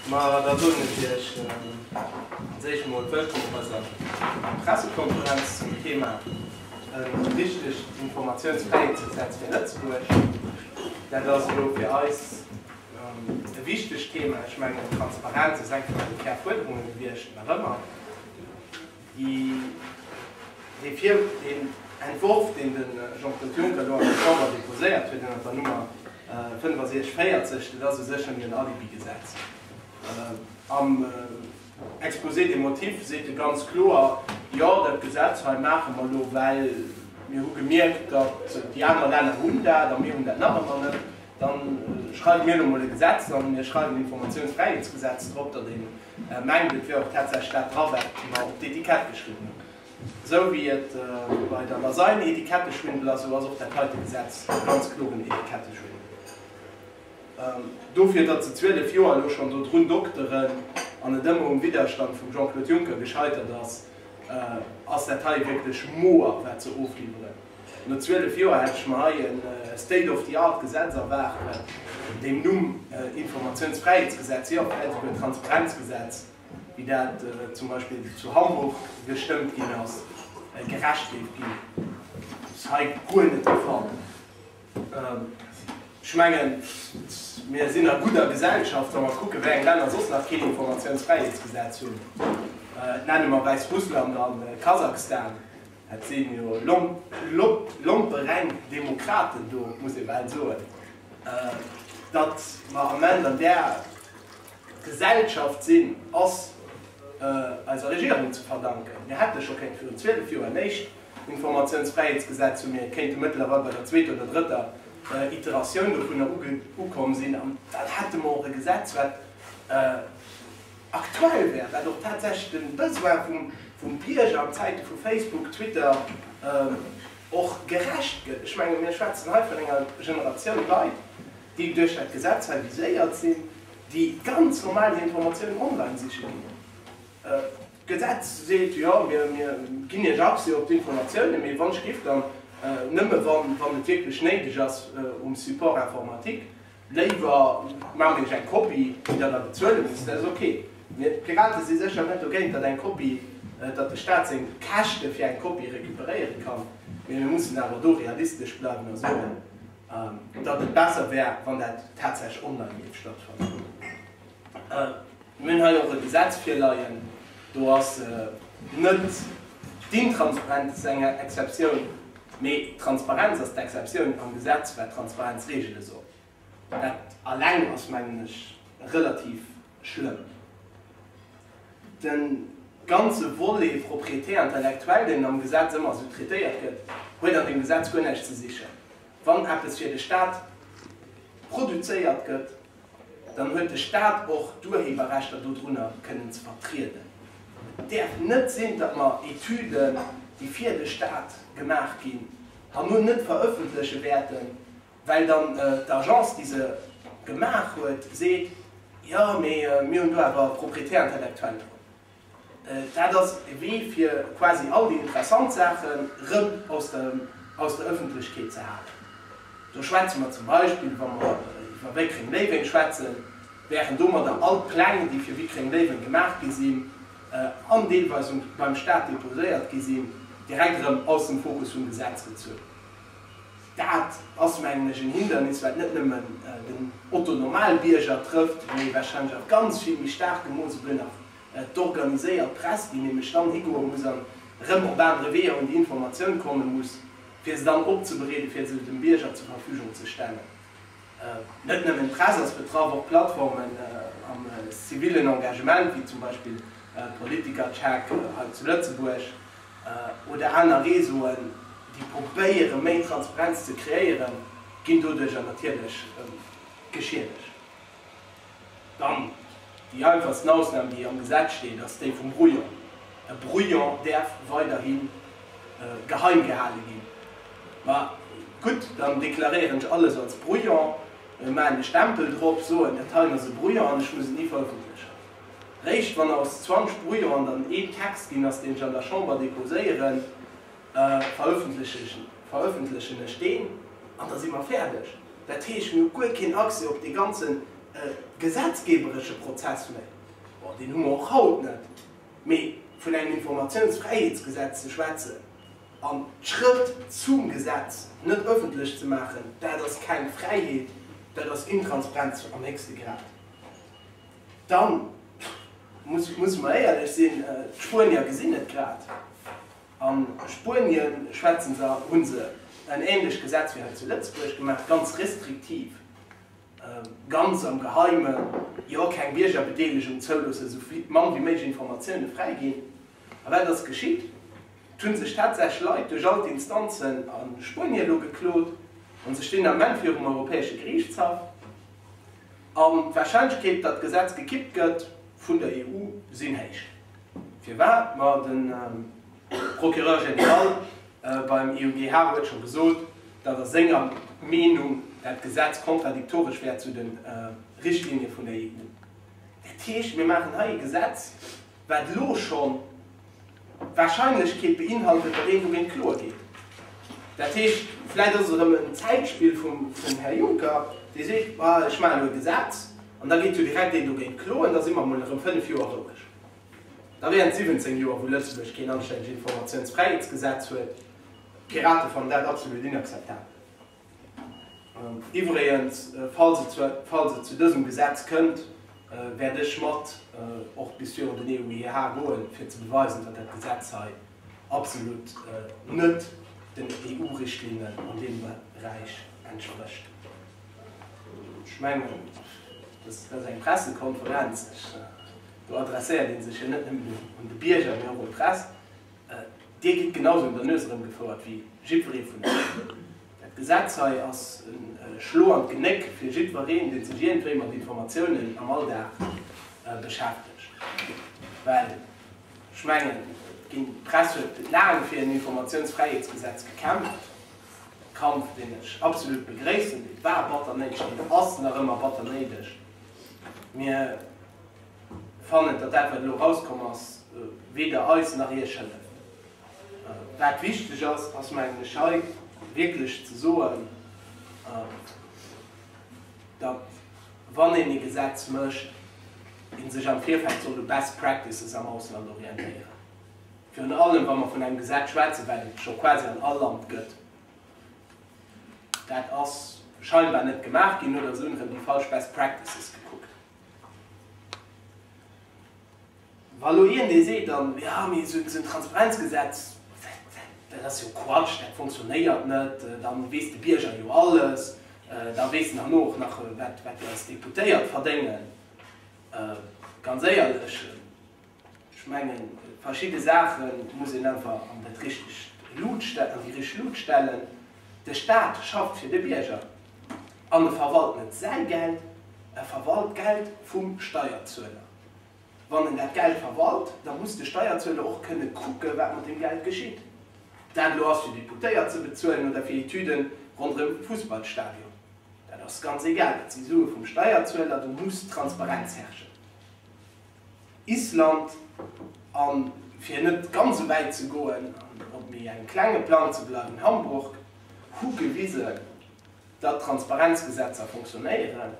Ma da soen ech Iech als éischt emol Wëllkomm op eiser Pressekonferenz zum Thema E richtegt Informatiounsfräiheetsgesetz fir Lëtzebuerg. Dat ass elo fir eis e wichtegt Thema. Ech mengen, Transparenz ass eng vun eise Kärfuerderunge gewiescht, nach ëmmer. Deen Entworf, deen de Jean-Claude Juncker do an der Chamber déposéiert huet ënnert der Nummer 6540, dat ass u sech nëmmen en Alibigesetz. Am Exposé des motifs seet e ganz kloer, Jo, dat Gesetz hei maache mer elo, well mir hu gemierkt, datt déi aner Länner hunn dat a mir hunn dat nach ëmmer net. Da schreiwe mir elo emol e Gesetz an, mir schreiwen Informatiounsfräiheetsgesetz drop, datt een Ech mengt et wier och tatsächlech dat dra wat mer op d'Etikett geschriwwen hunn. Esou wéi et bei der Lasagne een Etiketteschwindel ass, esou ass och dat heite Gesetz e ganz kloren Etiketteschwindel. Dofir datt se 12 Joer elo schonn do drun dokteren an et ëmmer um Widderstand vum Jean-Claude Juncker gescheitert ass, ass dat hei wierklech moer wat se ofliwweren. No 12 Joer hätt ech mer hei e state of the art Gesetz erwaart mat deem Numm Informationsfräiheetsgesetz, jo, vläit esouguer Transparenzgesetz, wéi dat zum Beispill zu Hamburg gestëmmt ginn ass, gerecht géif ginn. Dat ass hei guer net de Fall. Ech mengen, mir sinn a gudder Gesellschaft, wa mer kucken, wéi eng Länner soss nach keen Informationsfräiheetsgesetz hunn. Nenne mer Wäissrussland an Kasachstan. Dat sinn jo lompereng Demokraten do, muss ee bal soen. Datt mer ament an där Gesellschaft sinn, ass eiser Regierung ze verdanken. Mir hätte scho kéinte virun 12 Joer en éischt Informatiounsfräiheetsgesetz hu, mir kéinte mëttlerweil bei der zweeter oder drëtter Iteratioun dovunner ukomm sinn, an dann hätte mer och e Gesetz, wat Aktuell wär dat och tatsächlech de Besoin vum Bierger an Zäite vu Facebook, Twitter och gerecht gëtt. Ech menge mir schwätzen hei vun enger Generatioun Leit, déi duerch dat Gesetz hei viséiert sinn, déi ganz normal hir Informatiounen online siche ginn. D'Gesetz seet, jo mir ginn Iech Accès op d'Informatiounen, mee wann ech géif dann nëmme wann et wierklech néideg ass um Support informatique. Léiwer maache mir iech eng Kopie, déi der da bezuele musst. Dat ass ok. Mee d'Pirate si sécher net dogéint, datt eng Kopie, datt de Staat seng Käschte fir eng Kopie recuperéiere kann. Mee mir mussen awer do realistesch bleiwen a soen, datt et besser wär, wann dat tatsächlech online géif stattfannen. Mir hunn hei och e Gesetz virleien, do ass net d'Intransparenz eng Exceptioun, mee d'Transparenz ass d'Exceptioun am Gesetz, wat d'Transparenz regele soll. Dat alleng ass, mengen ech, relativ schlëmm. De ganze Volet Propriété intellectuelle, deen am Gesetz ëmmer esou traitéiert gëtt, huet an deem Gesetz guer näischt ze sichen. Wann eppes fir de Stat produzéiert gëtt, Dann huet de Stat och d'Urheberrechter dodrunner kënnen ze vertrieden. Et däerf net sinn, datt mer Etüden, déi fir de Stat gemaach ginn, herno net verëffentleche wäerten, well dann d'Agence, déi se gemaach huet, seet, Jo, mee mir hunn do awer Propriété intellectuelle drop. Dat ass e Wee fir quasi all déi interessant Saachen rëm aus der Ëffentlechkeet ze halen. Do schwätze mer zum Beispill, wa mer iwwer Wéckréng-Léiweng schwätzen, wären domadder all d'Pläng, déi fir Wéckréng-Léiweng gemaach gi sinn an deelweis beim Staat deposéiert gi sinn, direkt erëm aus dem Fokus vum Gesetz gezunn. Dat ass, mengen ech, en Hindernis, wat net nëmmen den Otto-Normalbierger trëfft, mee warscheinlech a ganz vill méi staarkem Mooss elo nach d'organiséiert Press, déi nämlech dann higoe muss an erëm op anere Weeër un déi Informatioun komme muss, fir se dann opzebereeden, fir se dem Bierger zur Verfügung ze stellen. Net nëmmen d'Press ass betraff, och Plattformen am zivillen Engagement, wéi zum Beispill Politiker Check hei zu Lëtzebuerg, oder aner Réseauen, déi probéieren, méi Transparenz ze kreéieren, ginn doduercher natierlech geschiedegt. Dann déi einfachsten Ausnam, déi am Gesetz steet, ass déi vum Brouillon. E Brouillon däerf weiderhi geheim gehale ginn. Ma gutt, dann deklaréieren ech alles als Brouillon, maachen e Stempel drop, soen, dat heien ass e Brouillon an ech muss et ni verëffentlechen. Réischt wann aus 20 Brouillon dann een Text ginn ass, deen ech an der Chamber déposéieren, verëffentlechen ech deen an da si mer fäerdeg. Dat heescht, mir hu guer keen Accès op dee ganze gesetzgeeberesche Prozess méi. Bon, deen hu mer och haut net. Mee vun engem Informatiounsfräiheetsgesetz ze schwätzen an d'Schrëtt zum Gesetz net ëffentlech ze maachen, dat ass keng Fräiheet, dat ass Intransparenz am héchste Grad. Dann musse mer éierlech sinn, d'Spuenier gesinn et grad. A Spuenien schwätzen se, hu se en ähnlech Gesetz wéi hei zu Lëtzebuerg gemaach, ganz restriktiv, ganz am Geheimen, jo, keng Biergerbedeelegung zouloossen, esou mann wéi méiglech Informatioune fräiginn. A wat ass geschitt? Et hu sech tatsächlech Leit duerch all d'Instanzen a Spuenie elo geklot a sech deen Ament virum Europäesche Geriichtshaff. An d'Wahrscheinlechkeet, datt d'Gesetz gekippt gëtt vun der EU, sinn héich. Firwat? Ma de Procureur général beim EuGH huet scho gesot, datt a senger Meenung dat Gesetz kontradiktoresch wär zu de Richtlinie vun der EU. Dat heescht, mir maachen hei e Gesetz, wat elo schonn d'Warscheinlechkeet beinhaltet, datt een dogéint Klo geet. Dat heescht, vläicht ass et erëm en Zäitspill vum Här Juncker, dee seet, ma ech maachen elo e Gesetz an da geet jo direkt een dogéint kloen, da si mer emol erëm fënnef Joer roueg. Da wären et 17 Joer, wou Lëtzebuerg keen anstännegt Informatiounsfräiheetsgesetz huet. D'Piraten fannen dat absolut inakzeptabel. Iwwregens, falls et zu dësem Gesetz kënnt, wäert ech mat och bis virun den EuGH goen, fir ze beweisen, datt dat Gesetz hei absolut net den EU-Richtlinnen an deem Beräich entsprécht. Ech mengen, dat ass eng Pressekonferenz, do adresséiert ee sech jo net nëmmen un de Bierger, mee och un d'Press. Dir gitt genausou un der Nues erëmgefouert wéi jiddweree vun eis. Dat Gesetz hei ass e Schlo an d'Genéck fir jiddwereen, dee sech iergendwéi mat Informatiounen am Alldag beschäftegt. Well ech mengen, d'Press huet laang fir en Informatiounsfräiheetsgesetz gekämpft, e Kampf, deen ech absolut begréissen. Et war batter néideg, et ass nach ëmmer batter néideg. fannen, datt dat, wat elo erauskomm ass, weder eis nach Iech hëlleft. Wat wichteg ass, ass, mengen ech, hei wierklech ze soen, datt, wann een e Gesetz mécht, ee sech am Virfeld soll u Best Practices am Ausland orientéieren. Virun allem, wa mer vun engem Gesetz schwätzen, wat et scho quasi an all Land gëtt. Dat ass scheinbar net gemaach ginn, oder se hunn erëm déi falsch Best Practices gekuckt. Wa elo hien dee seet dann, jo mee esou en Transparenzgesetz, dat ass jo Quatsch, dat fonctionnéiert net, da weess de Bierger jo alles, da weess en herno och nach wat dir als Deputéiert verdéngen, ganz éierlech, Ech mengen, verschidde Saache muss een einfach an dat richtegt Luut, an déi richteg Luut stellen. De Staat schafft fir de Bierger an e verwalt net säi Geld, e verwalt d'Geld vum Steierzueler. Wann en dat Geld verwalt, da muss de Steierzueler och kënne kucken, wat mat deem Geld geschitt. Dat elo ass fir Deputéiert ze bezuelen oder fir Etüden ronderëm e Fussballstadion, dat ass ganz egal, dat si Sue vum Steierzueler. Do muss Transparenz herrschen. Island, a fir net ganz sou wäit ze goen an op méi engem klenge Plang ze bleiwen, Hamburg, hu gewisen, datt d'Transparenzgesetzer funktionéieren.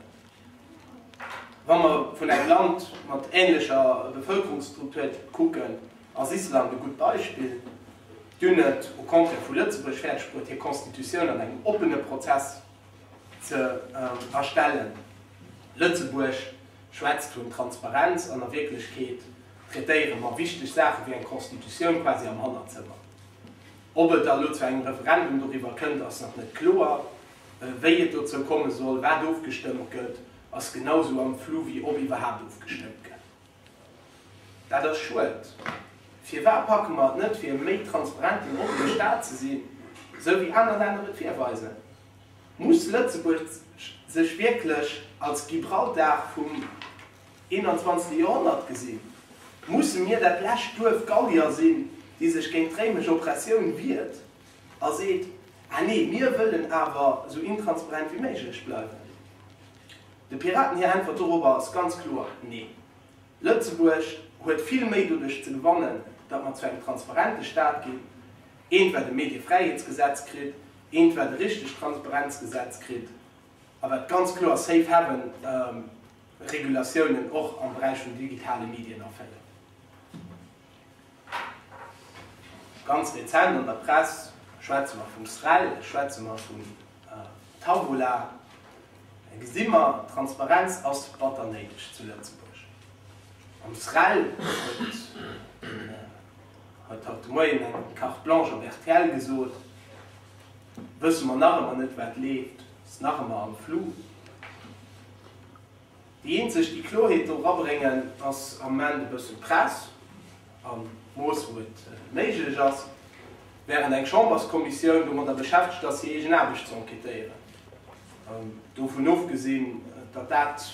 Wa mer vun engem Land mat änlecher Bevëlkerungsstruktur kucken, ass Island e gutt Beispill. Déi hunn et, au contraire vu Lëtzebuerg, fäerdegbruet hir Constitutioun an engem oppene Prozess ze erstellen. Lëtzebuerg schwätzt vun Transparenz, an a Wierklechkeet traitéiere mer wichteg Saache wéi eng Constitutioun quasi am Hannerzëmmer. Ob et da elo zu engem Referendum doriwwer kënnt, ass nach net kloer. Wéi et dozou komme soll, wat ofgestëmmt gëtt, ass genau esou am Flou wéi ob iwwerhaapt ofgestëmmt gëtt. Dat ass schued. Firwat packe mer et net fir e méi transparenten, oppene Staat ze sinn, esou wéi aner Länner et virweisen? Muss Lëtzebuerg sech wierklech als Gibraltar vum 21. Joerhonnert gesinn? Musse mir dat lescht Duerf Gallier sinn, déi sech géint d'réimesch Oppressioun wiert a seet, Ah nee, mir wëllen awer esou intransparent wéi méiglech bleiwen? De Piraten hir Äntwert dorobber ass ganz kloer Neen. Lëtzebuerg huet vill méi doduerch ze gewannen, datt mer zu engem transparente Staat ginn, eent wat e Mediefräiheetsgesetz kritt, eent wat e richtegt Transparenzgesetz kritt a wat ganz kloer Safe Haven Regulatiounen och am Beräich vun digitale Medien erfëllt. Ganz rezent an der Press schwätze mer vum SREL, schwätze mer vum Tabula. Da gesi mer, Transparenz ass batter néideg zu Lëtzebuerg. Am SREL huet haut de Moien eng Carte blanche op rtl gesot, wësse mer nach ëmmer net, wat leeft, ass nach ëmmer am Flou. Déi eenzeg, déi Kloerheet do rabréngen, ass am Moment e bëssen d'Press, am Mooss wou et méiglech ass, während eng Chamberskommissioun domadder beschäftegt ass, hir eegen Aarbecht ze enquêtéieren. Dovun ofgesinn, datt dat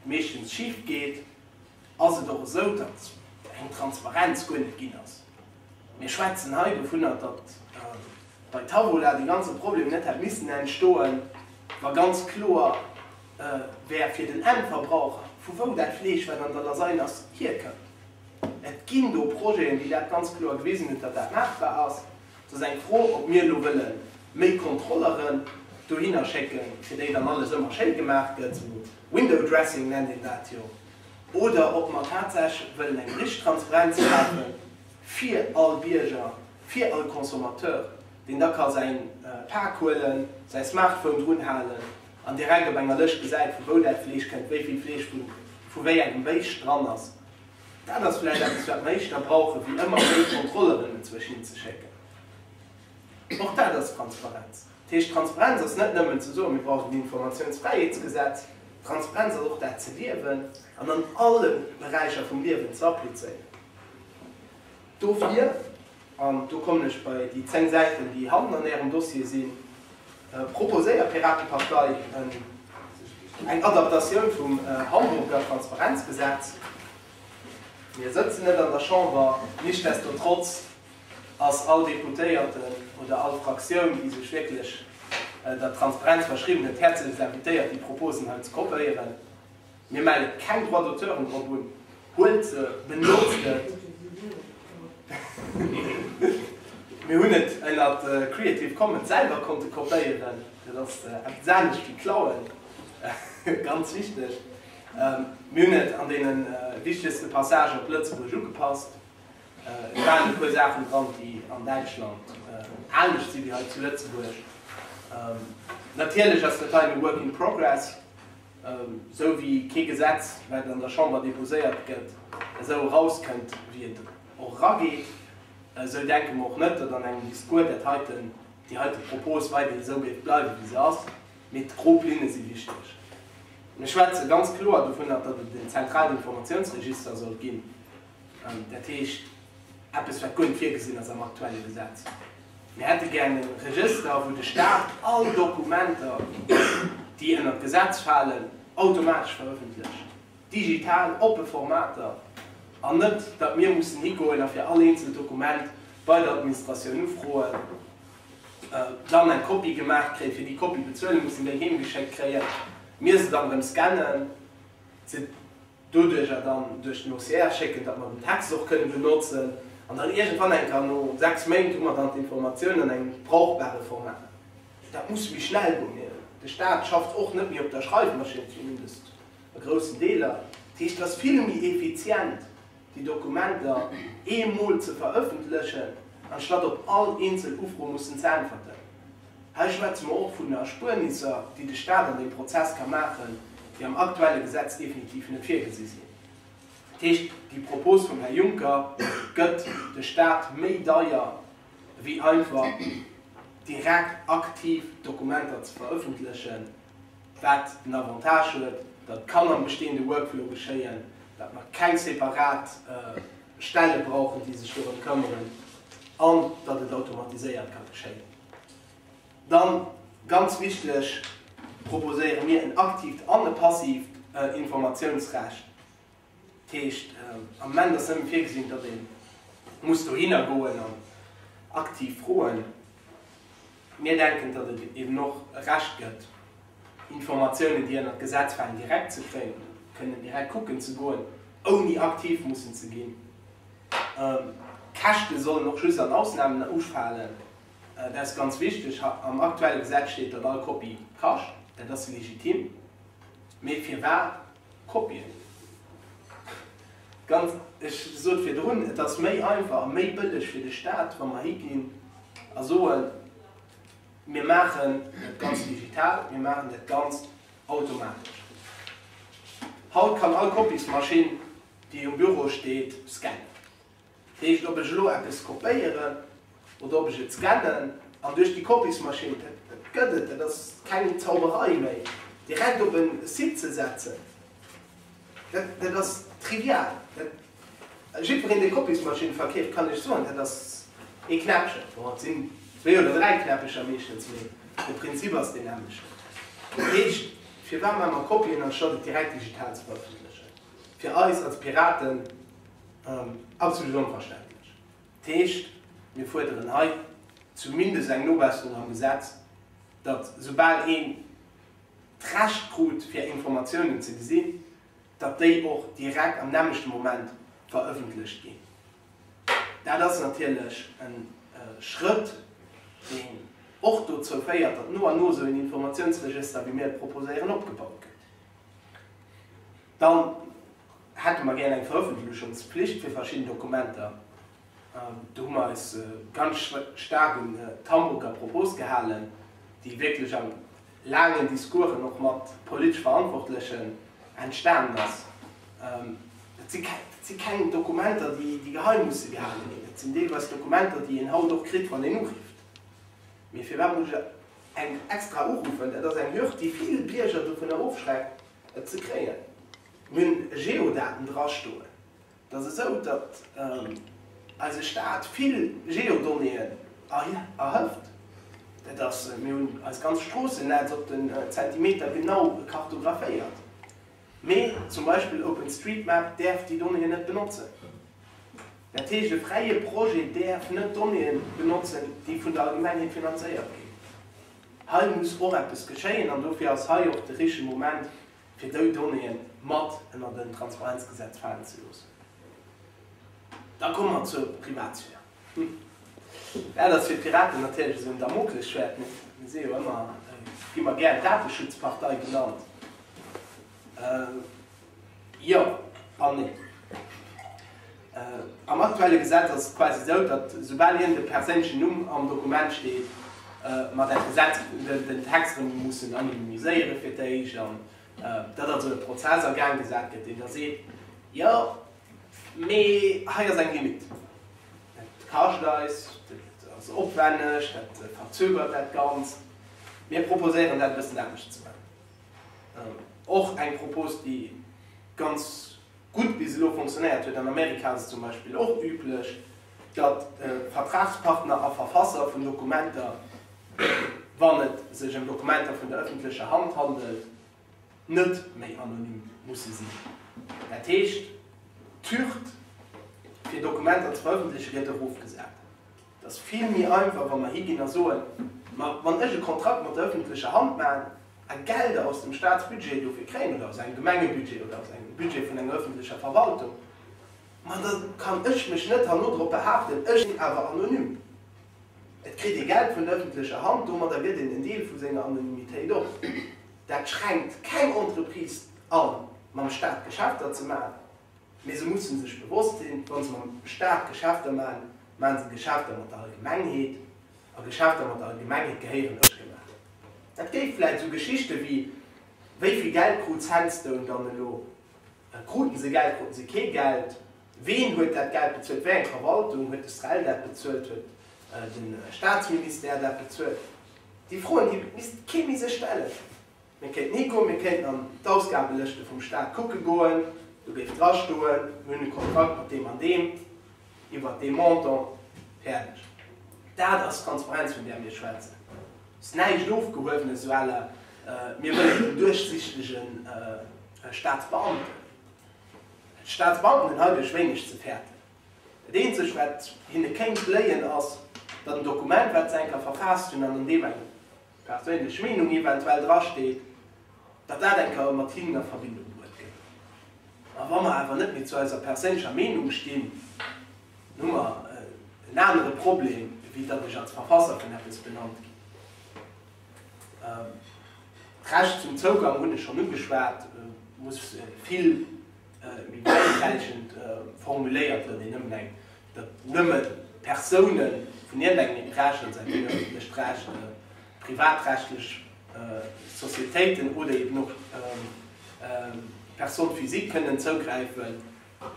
meeschtens schif geet, ass et och esou, datt eng Transparenz guer net ginn ass. Mir schwätzen hei dovunner, datt bei Tavola dee ganze Problem net hätt missen entstoen, wa ganz kloer, wär fir den Endverbraucher, vu wou dat Fleesch, wat an der Lasagne ass, hierkënnt. Et ginn do Projeten, déi dat ganz kloer gewisen hunn, datt dat maachbar ass. Et ass eng Fro, ob mir elo wëlle méi Kontrolleren dohinner schécke fir déi dann alles ëmmer schéi gemaach gëtt, esou Window Dressing nennt een dat jo, oder ob mer tatsächlech wëllen eng richteg Transparenz schafen fir all Bierger, fir all Consommateur, deen da ka säi Pak huelen, säi Smartphone drunhalen. an direkt op enger Lëscht gesäit, vu wou dat Fleesch kënnt, wéi vill Fleesch vu vu wéi engem Béischt dran ass, dat ass vläicht eppes, wat mer éischt da brauchen, wéi ëmmer méi Kontrolleren dozwësch hin ze schécken. Och dat ass Transparenz. Dat heescht, Transparenz ass net nëmmen ze soen, mir brauchen en Informatiounsfräiheetsgesetz. Transparenz ass och dat ze liewen an an alle Beräicher vum Liewen ze applizéieren. Dofir, an do kommen ech bei déi zéng Säiten, déi hannen an Ärem Dossier sinn, proposéiert d'Piratepartei eng Adaptatioun vum Hamburger Transparenzgesetz. Mir sëtzen net an der Chamber, nichtsdestotrotz ass all Deputéierten oder all Fraktioun, déi sech wierklech der Transparenz verschriwwen huet, häerzlech invitéiert, déi Proposen hei ze kopéieren. Mir melle keng Droits d'auteuren drop un. Huelt se, benotzt et. Mir hunn et ënnert Creative Commons selwer konnte kopéieren. Dat ass eppes anescht wéi klauen, ganz wichteg. Mir hunn et an deene wichtegste Passagen op Lëtzebuerg ugepasst. Et waren e puer Saachen dran, déi an Däitschland anescht si wéi hei zu Lëtzebuerg. Natierlech ass dat hei e Work in Progress. Esou wéi kee Gesetz, wat an der Chamber deposéiert gëtt, esou erauskënnt, wéi et och erageet, esou denke mer och net, datt an engem Discours dat heiten, déi heite Propos weider esou géif bleiwen, wéi se ass. Mee d'grob Linne si wichteg. Mir schwätze ganz kloer dovunner, datt et en zentralen Informatiounsregister soll ginn, Dat heescht, eppes, wat guer net virgesinn ass am aktuelle Gesetz. Mir hätte gären e Regëster, wou de Staat all Dokumenter, déi ënnert d'Gesetz falen, automatesch verëffentlecht, digital, oppe Formater, an net, datt mir mussen higoen a fir all eenzelt Dokument bei der Administratioun ufroen, dann eng Kopie gemaach kréien, fir déi Kopie bezuele mussen, déi heemgeschéckt kréien, mir se dann erëm scannen, se. doduerch a dann duerch den OCR schécken, datt mer den Text och kënne benotzen an dann iergendwann eng Kéier no 6 Méint hu mer dann d'Informatioun an engem brauchbare Format. Dat muss méi schnell goen. Mir, de Staat, schafft och net méi op der Schreifmaschinn, zumindest a groussen Deeler. Dat heescht, et ass vill méi effizient, déi Dokumenter eemol ze verëffentlechen, anstatt op all eenzel Ufro mussen ze äntwerten. Hei schwätze mer och vun Erspuernisser, déi de Staat an deem Prozess ka maachen, déi am aktuelle Gesetz definitiv net virgesi sinn. Dat heescht, déi Propos vum Här Juncker gëtt de Staat méi deier, wéi einfach direkt aktiv Dokumenter ze verëffentlechen, wat den Avantage huet, datt et kann am bestehende Workflow geschéien, datt mer keng separat Stelle brauchen, déi sech dorëm këmmeren, an datt et automatiséiert ka geschéien. Dann, ganz wichteg, proposéiere mir en aktiivt an e passiivt Informatiounsrecht. Dat heescht, am Ament ass nëmme virgesinn, datt ee muss dohinner goen an aktiv froen. Mir denken, datt et eben och e Recht gëtt, Informatiounen, déi ënnert d'Gesetz falen, direkt ze kréien, kënnen direkt kucken ze goen, ouni aktiv mussen ze ginn. Käschte sollen och just an Ausnamen ufalen. Dat ass ganz wichteg. Am aktuelle Gesetz steet, datt all Kopie kascht. Dat ass legitim. Mee firwat Kopien? Ganz, ech sot virdrun, et ass méi einfach a méi bëlleg fir de Staat, wa mer higinn a soen, mir maachen dat Ganzt digital, mir maachen dat Ganzt automatesch. Haut kann all Kopiesmaschinn. déi um Büro steet, scannen. Dat heescht, ob ech elo eppes kopéieren oder ob ech et scannen an duerch déi Kopiesmaschinn, dat gëtt et, dat ass keng Zauberei méi, direkt op e Site ze setzen, dat ass trivial. Jiddwereen, dee Kopiesmaschinne verkeeft, kann lech soen, dat ass ee Knäppchen, bon, et sinn zwee oder dräi Knäppecher meeschtens, mee de Prinzip ass deen nämmlechten. Dat heescht, firwat maache mer Kopien, anstatt et direkt digital ze verëffentlechen? fir eis als Piraten absolut onverständlech. Dat heescht, mir fuerderen hei zumindest eng Nobesserung am Gesetz, datt esoubal een d'Recht krut fir Informatiounen ze gesinn, datt déi och direkt am nämmlechte Moment verëffentlecht ginn. Dat ass natierlech e Schrëtt, deen och dozou féiert, datt no an no esou een Informatiounsregëster, wéi mir et proposéieren, opgebaut gëtt. Dann hätte mer gären eng Veröffentlechungspflicht fir verschidden Dokumenter. Do hu mer eis ganz staark un d'Hamburger Propos gehalen, déi wierklech a laangen Discoursen, och mat politesch Verantwortlechen, entstanen ass. Dat si keng Dokumenter, déi geheim musse gehale ginn. Dat sinn deelweis Dokumenter, déi een haut och kritt, wann een urifft. Mee firwat muss ech Eng extra uruffen, dat ass eng Hürd, déi vill Bierger dovunner ofschreckt, et ze kréien. Mir hunn Geodaten drastoen. Et ass esou, datt eise Staat vill Geodonnéeën erhëft. Dat ass, mir hunn eis ganz Stroossennetz op den Zentimeter genau kartographéiert. Mee zum Beispill OpenStreetMap däerf déi Donnéeën net benotzen. Dat heescht, e fräie Projet däerf net Donnéeë benotzen, déi vun der Allgemengheet finanzéiert ginn. Hei muss och eppes geschéien an dofir ass hei och de richtege Moment, fir déi Donnéeë mat ënnert en Transparenzgesetz falen ze loossen. Da komme mer zur Privatsphär. Dat ass fir d'Piraten natierlech esou en Damoklesschwäert. Mir si jo ëmmer, gi mer gär d'Dateschutzpartei genannt. Jo an nee. Am aktuelle Gesetz ass et quasi esou, datt esoubal iergendee perséinlechen Numm am Dokument steet, mer dat Gesetz, den Text erëm mussen anonymiséieren fir d'éischt. An datt also e Prozess a Gaang gesat gëtt, deen da seet, jo, Mee hei ass eng Limit. Dat kascht eis, dat ass opwenneg, dat verzögert dat Ganzt. Mir proposéieren dat e bëssen anescht ze maachen. Och eng Propos, déi ganz gutt bis elo fonctionnéiert huet, an Amerika ass et zum Beispill och üblech, datt Vertragspartner a Verfasser vun Dokumenter, wann et sech ëm Dokumenter vun der ëffentlecher Hand handelt, net méi anonym musse sinn. Dat heescht, d'Hürd, fir Dokumenter ze verëffentleche gëtt erofgesat. Et ass vill méi einfach, wa mer higinn a soen, Ma wann ech e Kontrakt mat der ëffentlecher Hand maachen a Gelder aus dem Staatsbudget dofir kréien oder aus engem Gemengebudget oder aus engem Budget vun enger ëffentlecher Verwaltung, ma da kann ech mech net herno drop behaapten, ech sinn awer anonym. Et kritt ee Geld vun der ëffentlecher Hand, domadder gëtt een en Deel vu senger Anonymitéit op. Dat schränkt keng Entreprise a mam Staat Geschäfter ze maachen, mee se musse sech bewosst sinn, wa se mam Staat Geschäfter maachen, maache se Geschäfter mat der Allgemengheet a Geschäfter mat der Allgemengheet gehéieren net gemaach. Dat géif vläit esou Geschichte wéi Wéi vill Geld krut Sandstone dann elo? Kruten se Geld, kruten se kee Geld? Ween huet dat Geld bezuelt? Wéi eng Verwaltung? Huet de SREL dat bezuelt? Huet de Staatsministère dat bezuelt? Déi Froen, déi misst kee méi sech stellen. Mir kéinten higoen, mir kéinten an d'Ausgabelëschte vum Staat kucke goen, do géif drastoen, mir hunn e Kontrakt mat deem an deem iwwert dee Montant, fäerdeg. Dat ass d'Transparenz, vun där mir schwätzen. Ass näischt Ofgehuewenes à la mir wëllen en duerchsichtege Staatsbeamten. D'Staatsbanken hunn heidurch wéineg ze fäerten. Dat eenzegt, wat hinne kéint bléien, ass, datt en Dokument, wat se enker verfaasst hunn an an deem eng perséinlech Meenung eventuell drasteet, datt dat enker mat hinnen a Verbindung bruet gëtt. Ma wa mer awer net méi zu eiser perséinlecher Meenung stinn, dann hu mer en anere Problem, wéi datt ech als Verfasser vun eppes benannt ginn. D'Recht zum Zougang hunn ech schonn ugeschwat, muss vill méi bäidesäitend formuléiert gënn, wéi nëmmen eng, datt nëmme Persounen vun iergendengem Interesse säin, wéi nëmmen d'lescht Recht, privatrechtlech Societéiten oder eben och Personnes physiques kënnen zougräifen.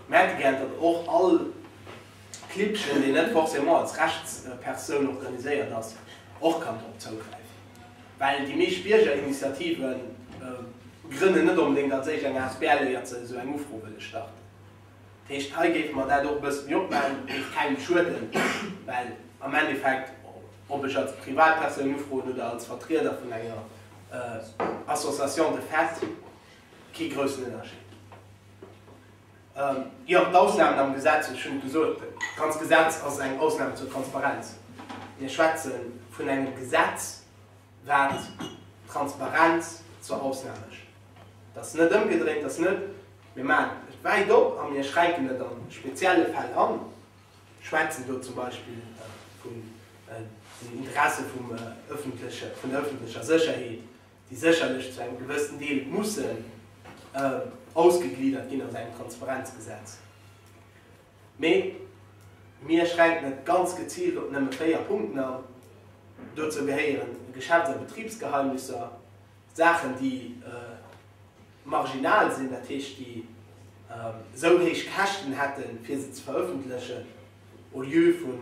Merke gäert, datt och all Klibbchen, deen net forcément als Rechtspersoun organiséiert ass, och kann drop zougräifen. Well déi meescht Biergerinitiative grënnen net onbedéngt als éischt eng asbl, éiert se esou eng Ufro wëlle starten. Dat heescht, hei géife mer dat och e bësse méi opmachen. Et géif kengem schueden, well am Endeffekt, ob ech als Privatpersoun ufroen oder als Vertrieder vun enger Association de fait, kee groussen Ënnerscheed. Jo, d'Ausnahmen am Gesetz, ech hunn et gesot, d'ganz Gesetz ass eng Ausnahme zur Transparenz. Mir schwätze vun engem Gesetz, wat d'Transparenz zur Ausnahme mécht. Et ass net ëmgedréint, et ass net, mir maachen et wäit op a mir schränken et a spezielle Fäll an. Ech schwätzen do zum Beispill vun den Interesse vum öffentleche, vun der öffentlecher Sécherheet, déi sécherlech zu engem gewëssen Deel mussen ausgegliedert ginn aus engem Transparenzgesetz, mee mir schränken et ganz geziilt op nëmme véier Punkten an. Dozou gehéieren Geschäfts a Betribsgeheimnisser, Saachen, déi marginal sinn, dat heescht, déi esou héich Käschten hätten, fir se ze verëffentlechen, au lieu vu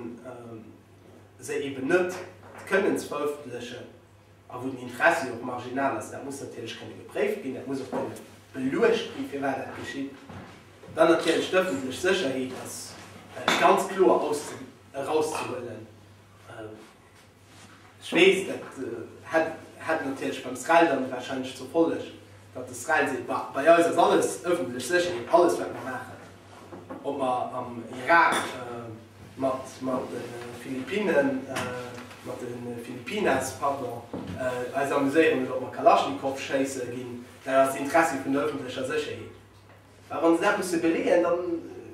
se eeben net kënnen ze verëffentlechen. a wou den Interessi och marginal ass, dat muss natierlech kënne gepréift ginn, dat muss och kënne beluecht ginn, firwat dat geschitt. Dann natierlech d'ëffentlech Sécherheet ass ganz kloer erauszehuelen. Ech weess, dat hätt natierlech beim SREL dann warscheinlech zur Folleg, datt de SREL seet, bei eis ass alles ëffentlech Sécherheet, alles wat mer maachen. Ob mer am Irak mat de Philippinnen, mat de Filipinas, pardon, eis amuséieren oder ob mer Kalaschnikow schéisse ginn, dat ass d'Interessi vun der ëffentlecher Sécherheet. Mä wa se dat musse beleeën, da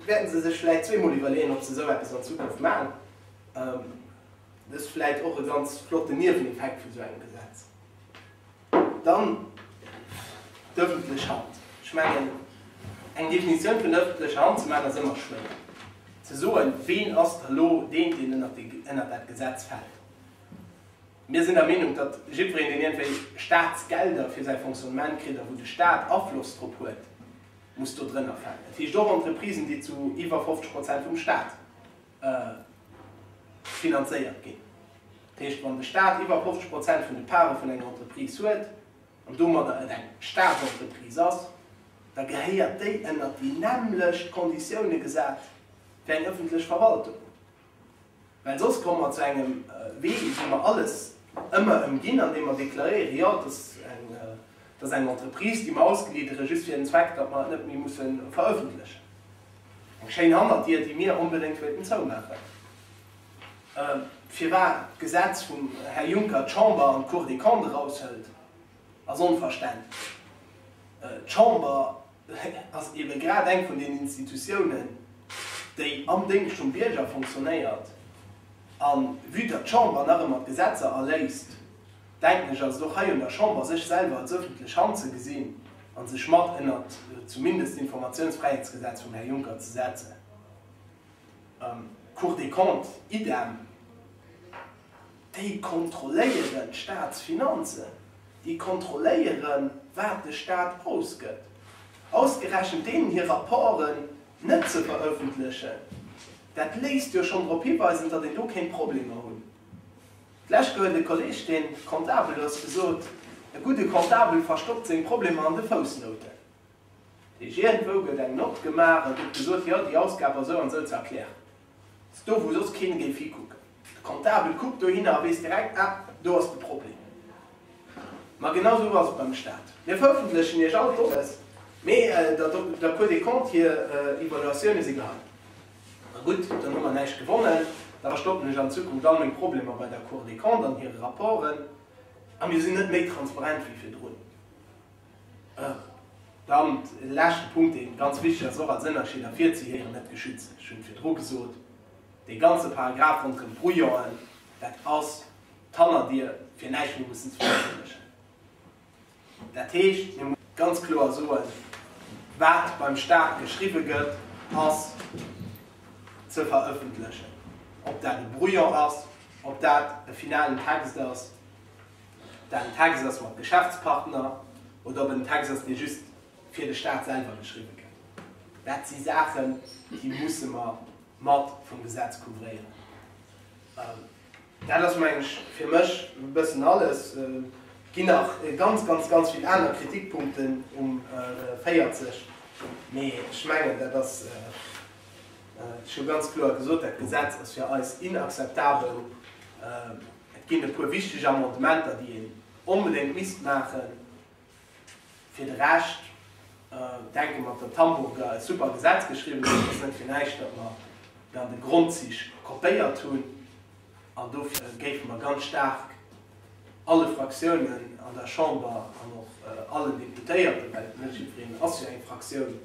wäerte se sech vläicht zweemol iwwerleeën, ob se esou eppes an Zukunft maachen. Dat ass vläicht och e ganz flotten Nieweneffekt vun esou engem Gesetz. Dann d'ëffentlech Hand. Ech mengen, eng Definitioun vun der ëffentlecher Hand ze maachen, ass ëmmer schwéier. Ze soen, ween ass da elo deen, deen ënnert dat Gesetz fält. Mir sinn der Meenung, datt jiddwereen, deen iergendwéi Staatsgelder fir säi Fonctionnement kritt a wou de Staat Afloss drop huet, muss do drënner falen. Dat heescht och Entreprisen, déi zu iwwer 50 Prozent vum Staat finanzéiert ginn. Dat heescht, wann de Staat iwwer 50 Prozent vun de Parten vun enger Entreprise huet an domadder et eng Staatsentreprise ass, da gehéiert déi ënnert déi nämmlecht Konditioune gesat wéi eng ëffentlech Verwaltung. Well soss komme mer zu engem Wee, wou mer alles ëmmer ëmginn, andeem mer deklaréieren, jo, et ass eng Entreprise, déi mer ausgliedere just fir den Zweck, datt mer et net méi musse verëffentlechen. Eng schéin Hannerdier, déi mir onbedéngt wéilten zoumaachen. Firwat d'Gesetz vum Här Juncker d'Chamber an d'Cour des Comptes eraushëlt, ass onverständlech. D'Chamber ass ebe grad eng vun den Institutiounen, déi am Déngscht vum Bierger funktionéiert. A vue datt d'Chamber nach ëmmer d'Gesetzer erléisst, denken ech, ass et och hei un der Chamber, sech selwer als öffentlech Hand ze gesinn a sech mat ënnert zumindest d'Informatiounsfräiheetsgesetz vum Här Juncker ze setzen. D'Cour des Comptes, idem. Déi kontrolléieren d'Staatsfinanzen, déi kontrolléieren, wat de Stat ausgëtt. Ausgerechent deenen hir Rapporten net ze veröffentlechen, dat léisst jo schonn drop hiweisen, datt een do kéint Problemer hunn. D'lescht gouf et e Kolleg, deen Comptabel ass, gesot, E gudde Comptabel verstoppt seng Problemer an de Foussnouten. Dat heescht, iergendwou gëtt eng Nott gemaach a gëtt gesot, jo, déi Ausgab ass esou an esou ze erklären. Dat ass do, wou soss keen géif hikucken. De Comptabel kuckt dohinner a weess direkt, Ah, do ass de Problem. Ma genau esou ass et beim Staat. Mir verëffentlechen Iech all d'Données, mee der Cour des Comptes hir Evaluatioune si gehei. Ma gutt, dann hu mer näischt gewonnen. Da verstoppen ech an Zukunft all meng Problemer bei der Cour des Comptes an hire Rapporten a mir sinn net méi transparent wéi virdrun. Dann e leschte Punkt, dee ganz wichteg ass, och als Ënnerscheed ervirzehieren, net geschützt. Ech hunn et virdru gesot, dee ganze Paragraph ronderëm d'Brouillon'en, dat ass d'Hannerdier, fir näischt méi mussen ze verëffentlechen. Dat heescht, mir mussen ganz kloer soen, wat beim Staat geschriwwe gëtt, ass ze verëffentlechen, ob dat e Brouillon ass, ob dat e finalen Text ass, ob dat en Text ass mat Geschäftspartner oder ob et en Text ass, dee just fir de Staat selwer geschriwwe gëtt. Dat si Saachen, déi musse mer mat vum Gesetz couvréieren. Dat ass meng ech fir mech e bëssen alles. Et ginn nach ganz, ganz, ganz vill aner Kritikpunkten um 40, mee ech mengen, dat ass scho ganz kloer gesot, dat Gesetz ass fir eis inakzeptabel. Et ginn e puer wichteg Amendementer, déi een onbedéngt misst maachen. Fir de Rescht denke mer, datt d'Hamburger e super Gesetz geschriwwen hunn. Et ass net fir näischt, datt mer et an de Grondzich kopéiert hunn. An dofir géife mer ganz staark alle Fraktiounen an der Chamber an och allen Deputéierten, well net jiddwereen ass jo eng Fraktioun,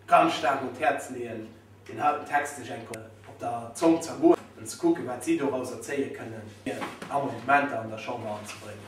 ganz staark un d'Häerz leeën, deen heiten Text sech eng Kéier op der Zong zergoen an ze kucken, wat si dorauser zéie kënnen, fir Amendementer an der Chamber anzebréngen.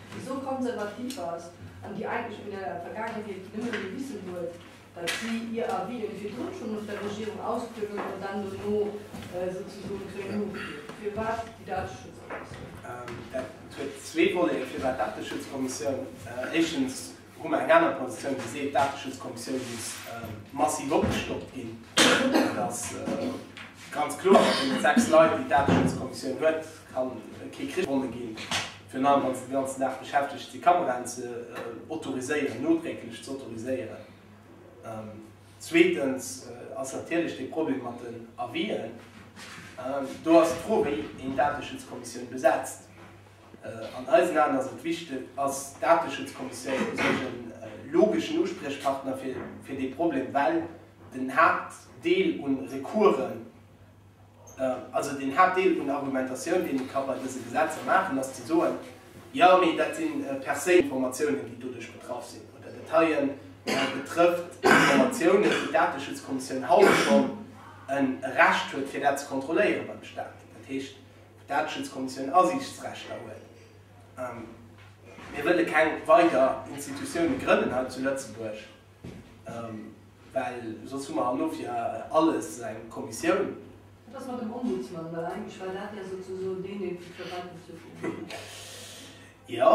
Esou konservativ ass an déi eigentlech vun der Vergaangenheet nëmme dee Wissen huet, datt si hir Avisen virdrun schonn of der Regierung ausklöwen an dann dono souzesoen d'Réunion fiert. Firwat déi Dateschutzkommissioun? Dat huet zwee Volleten, firwat d'Dateschutzkommissioun. Éischtens Hu mer eng aner Positioun, déi seet, d'Dateschutzkommissioun muss massiv opgestockt ginn. Dat ass ganz kloer. Mat deene sechs Leit, déi d'Dateschutzkommissioun huet, ka kee Krich gewonnen ginn, virun allem wann se den ganzen Dag beschäftegt sinn, Kameraen ze autoriséieren, nodrécklech ze autoriséieren. Zweetens ass natierlech dee Problem mat den Avis'en. Do ass d'Fro, wéi een d'Dateschutzkommissioun besetzt. An eisen Aen ass et wichteg, ass d'Dateschutzkommissioun u sech e logeschen Uspriechpartner fir dee Problem, well den Haaptdeel un Recoursen, also den Haaptdeel un Argumentatioun, deen ee ka bei dëse Gesetzer maachen, ass ze soen, Jo, mee dat si per se Informatiounen, déi doduerch betraff sinn, oder dat heie betrëfft Informatiounen, wou d'Dateschutzkommissioun haut schonn e Recht huet, fir dat ze kontrolléiere beim Staat. Dat heescht, D'Dateschutzkommissioun Asiichtsrechter huet. Mir wëlle keng weider Institutioune grënnen hei zu Lëtzebuerg, well soss hu mer herno fir alles eng Kommissioun. Wat ass mat dem Ombudsman? Well eigentlech war dat jo souzesoen deen, deen vu virauss duerfir virgesinn war. Jo,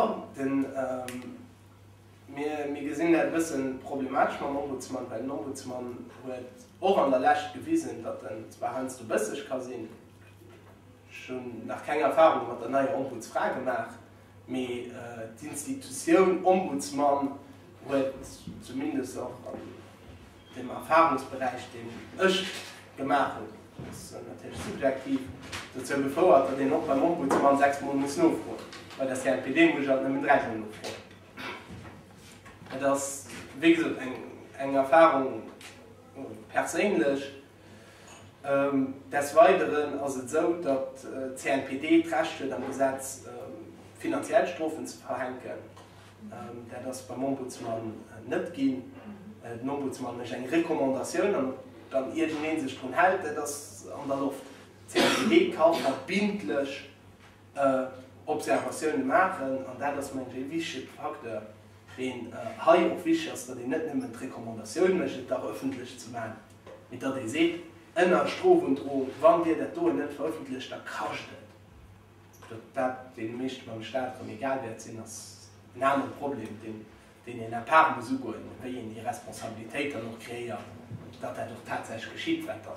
mir gesinn dat e bësse problematesch mam Ombudsman, well den Ombudsman huet och an der Lescht gewisen, datt en zwar heiansdo bësseg ka sinn, Ech hunn nach keng Erfarunge mat der neier Ombudsfra gemaach, mee d'Institutioun Ombudsmann huet zumindest och an dem Erfarungsberäich, deen ech gemaach hunn, dat ass natierlech subjektiv, dozou gefouert, datt een och beim Ombudsmann sechs Mol muss nofroen. Bei der CNPD muss ech alt nëmmen dräi Mol nofroen. Et ass, wéi gesot, eng Erfarung perséinlech. Des Weideren ass et esou, datt d'CNPD d'Recht huet am Gesetz finanziell Strofen ze verhänken. Dat ass beim Ombudsmann net ginn. Den Ombudsmann mécht eng Recommandatioun an wann iergendeen sech drun hält, dat ass an der Loft. D'CNPD kann verbindlech Observatioune maachen an dat ass, mengen ech, ee wichtege Facteur, deen hei och wichteg ass, datt een net nëmmen d'Recommandatioun mécht, et dach ëffentlech ze maachen. Mee datt ee seet, ënner Strofundroung, wann Dir dat doen net verëffentlecht, da kascht et, datt dat deene meeschte beim Staat erëm egal wäert sinn, ass en anere Problem, deen een à part muss ugoen, wéi een déi Responsabilitéit dann och kreéiert, datt dat och tatsächlech geschitt, wat da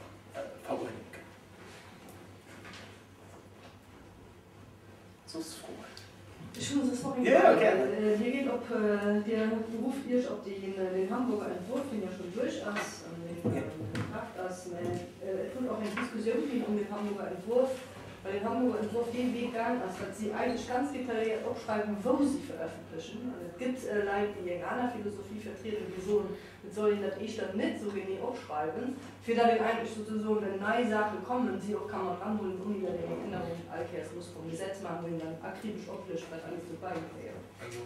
veruerdent gëtt. soss Froen? Ech hunn soss nach eng Fro. Jo, gären. Dir geet op, Dir berufft Iech op den Hamburger Entwurf, deen jo schonn duerch ass an deen a Kraaft ass, mä et huet och eng Diskussioun ginn ëm den Hamburger Entwurf, well den Hamburger Entwurf dee Wee gaang ass, datt si eigentlech ganz detailléiert opschreiwen, wou si verëffentlechen. An et gëtt Leit, déi eng aner Philosophie vertrieden, déi soen, Et soll een dat éischter net esou genee opschreiwen, fir datt een eigentlech souzesoen, wenn nei Saache kommen, si och ka mat ranhuelen, ouni datt een eng Ännerung all Kéiers muss vum Gesetz maachen, wou een dann akribesch oplëscht, wat alles dobäi gehéiert. Also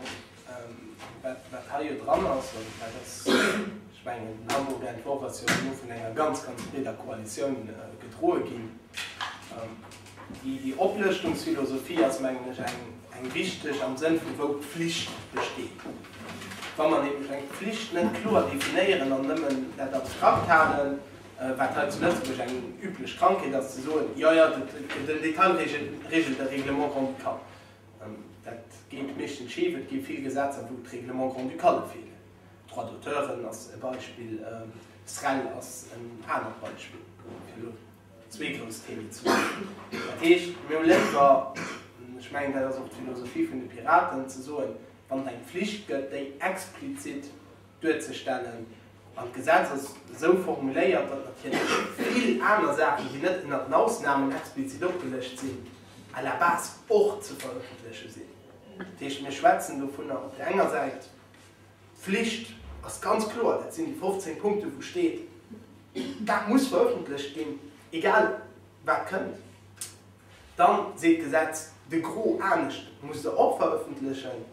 wat hei jo dran ass, an dat ass, ech mengen, den Hamburg-Entworf ass jo elo vun enger ganz, ganz breeder Koalitioun gedroe ginn, Déi Oplëschtungsphilosophie ass, mengen ech, eng richteg am Sënn vu wou d'Flicht besteet. Wa mer nämlech eng Flicht net kloer definéieren an nëmmen dat abstrakt halen, wat hei zu Lëtzebuerg eng üblech Krankheet ass, ze soen, jo, jo, den Detail regelt de Règlement grand-ducal, dat geet meeschtens schif. Et gi vill Gesetzer, wou d'Règlements grand-ducale feelen. Droit d'auteuren ass e Beispill, SREL ass en anert Beispill, fir elo Zwee grouss Themen ze maachen. Dat heescht, mir hu léiwer, an ech mengen, dat ass och d'Philosophie vun de Piraten, ze soen, wann et eng Pflicht gëtt, déi explizit duerzestellen. An d'Gesetz ass esou formuléiert, datt natierlech vill aner Saachen, déi net ënner den Ausnahmen explizit opgelëscht sinn, à la base och ze verëffentleche sinn. Dat heescht, mir schwätzen dovunner op där enger Säit, Flicht ass ganz kloer, dat sinn déi 15 Punkten, wou steet, dat muss verëffentlecht ginn, egal wat kënnt. Dann seet d'Gesetz de Gros anescht, muss se och verëffentlechen.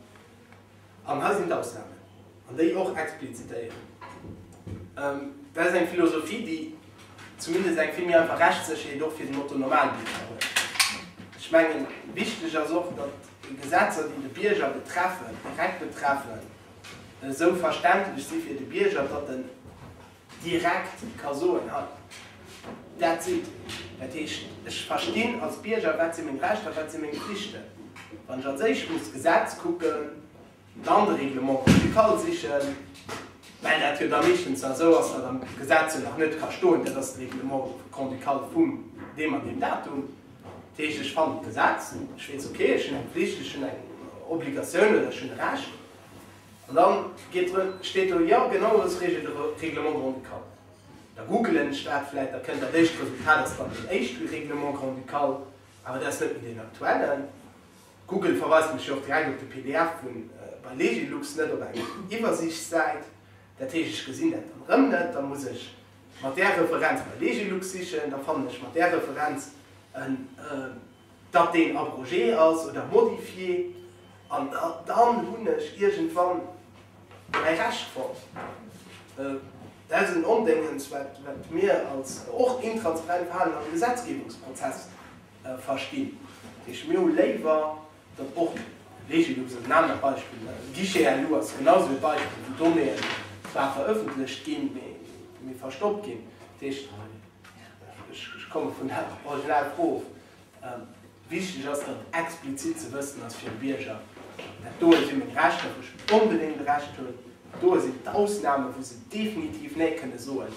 An hei sinn d'Ausnahmen, an déi och explizitéieren. Dat ass eng Philosophie, déi zumindest eng vill méi einfach Rechtssécherheet och fir den Otto-Normalbierger huet. Ech mengen, wichteg ass och, datt. Déi Gesetzer, déi de Bierger betreffen, direkt betreffen, esou verständlech si fir de Bierger, datt en direkt ka soen, That's it. Dat heescht, ech verstinn als Bierger, wat si meng Rechter, wat si meng Pflichten. Wann ech als éischt muss d'Gesetz kucken, Dann de Règlement communautaire sichen, well dat jo da meeschtens nach esou ass, datt am Gesetz jo nach net ka stoen, dat ass de Règlement comducatal vum deem an deem Datum. Dat heescht, ech fannen d'Gesetz, ech weess, okay, ech hunn eng Pflicht, ech hunn eng Obligatioun oder ech hunn e Recht. An da geet drun, steet do, jo, genau esou regelt de Règlement grand-ducal. Da googelen ech dat vläicht, da kënnt dat éischt Resultat ass dann deen éischte Règlement grand-ducal, awer dat ass net méi deen aktuellen. Google verweist mech jo och direkt op de pdf vu bei Legilux, net op eng Iwwersiichtssäit. Dat heescht, ech gesinn dat dann erëm net. Da muss ech mat där Referenz bei Legilux sichen. Da fannen ech mat där Referenz, datt deen abrogé ass oder modifié. An dann hunn ech iergendwann mäi Recht fonnt. Dat ass en Ondéngens, wat mir als och intransparent Verhalen am Gesetzgebungsprozess Verstinn ech. Mir hu léiwer datt och Regelungen, also en anert Beispill, de Guichet à loups ass genau esou e Beispill, wou Donnéeën zwar verëffentlecht ginn, mee mee verstoppt ginn. Dat heescht, ech ech komme vun der original Fro of, wichteg ass datt explizit ze wëssen ass fir e Bierger, dat doe si meng Rechter, wou ech onbedéngt e Recht hunn, dat doe sinn d'Ausnamen, wou se definitiv Nee kënne soen.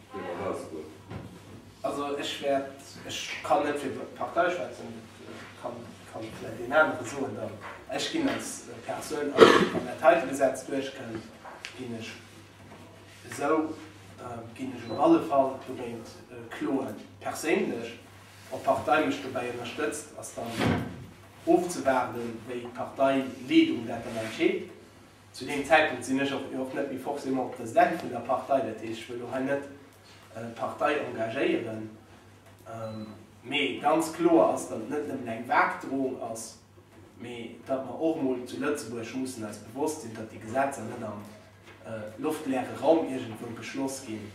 Wéi mer eraus goen. Also ech wäert, ech kann net fir d'Partei schwätzen, dat kann vläicht een anere soen dann. Ech ginn als Persoun, also wann dat heite Gesetz duerchkënnt, ginn ech esou, ginn ech op alle Fall dogéint kloen. Perséinlech, ob d'Partei mech dobäi ënnerstëtzt, ass dann ofzewaarden, wéi d'Parteileedung dat dann entscheet. Zu deem Zäitpunkt sinn ech jo och net méi forcément President vun der Partei, dat heescht, ech wëll elo hei net d'Partei engagéieren. Mee ganz kloer ass, datt et net nëmmen eng vag Drohung ass, mee datt mer och emol zu Lëtzebuerg mussen eis bewosst sinn, datt déi Gesetzer net am loftleere Raum iergendwou beschloss ginn,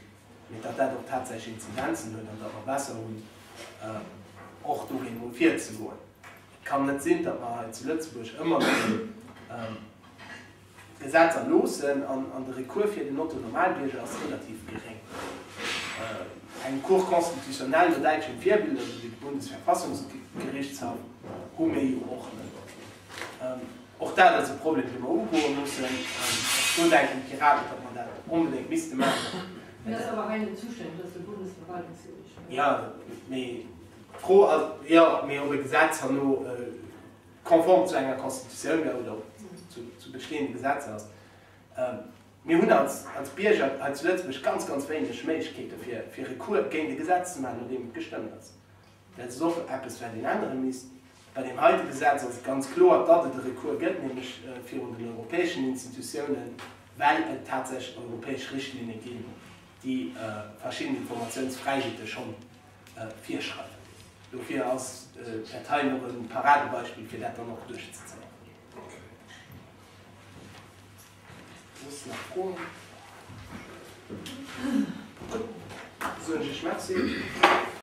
mee datt dat och tatsächlech Inzidenzen huet an datt mer besser hunn, och dogéint emol virzegoen. Kann net sinn, datt mer hei zu Lëtzebuerg ëmmer méi Gesetz erloossen an de Recours fir den Otto-Normalbierger ass relativ geréng. Eng Cour constitutionnelle no däitschem Virbild, esou wéi de Bundesverfassungsgerichtshaff, hu mir jo och net. Och dat ass e Problem, dee mer ugoe mussen. Do denken d'Piraten, datt mer dat onbedéngt misste maachen. Mee dat ass awer hei net zustänn, dat ass de Bundesverwaltungsgeriichtshof. Jo, mee D'Fro ass jo, mee ob e Gesetz herno konform zu enger Constitutioun oder zu bestehende Gesetzer ass. Mir hunn als Bierger hei zu Lëtzebuerg ganz, ganz wéineg Méiglechkeete fir Recours géint e Gesetz ze maachen, no deem et gestëmmt ass. Dat ass och eppes, wat een ännere misst. Bei deem heite Gesetz ass et ganz kloer, datt et e Recours gëtt, nämlech virun den europäeschen Institutiounen, well et tatsächlech europäesch Richtlinne ginn, déi verschidden Informatiounsfräiheete schonn. virschreiwen. Dofir ass dat hei och e Paradebeispill, fir dat dann och duerchzezéien.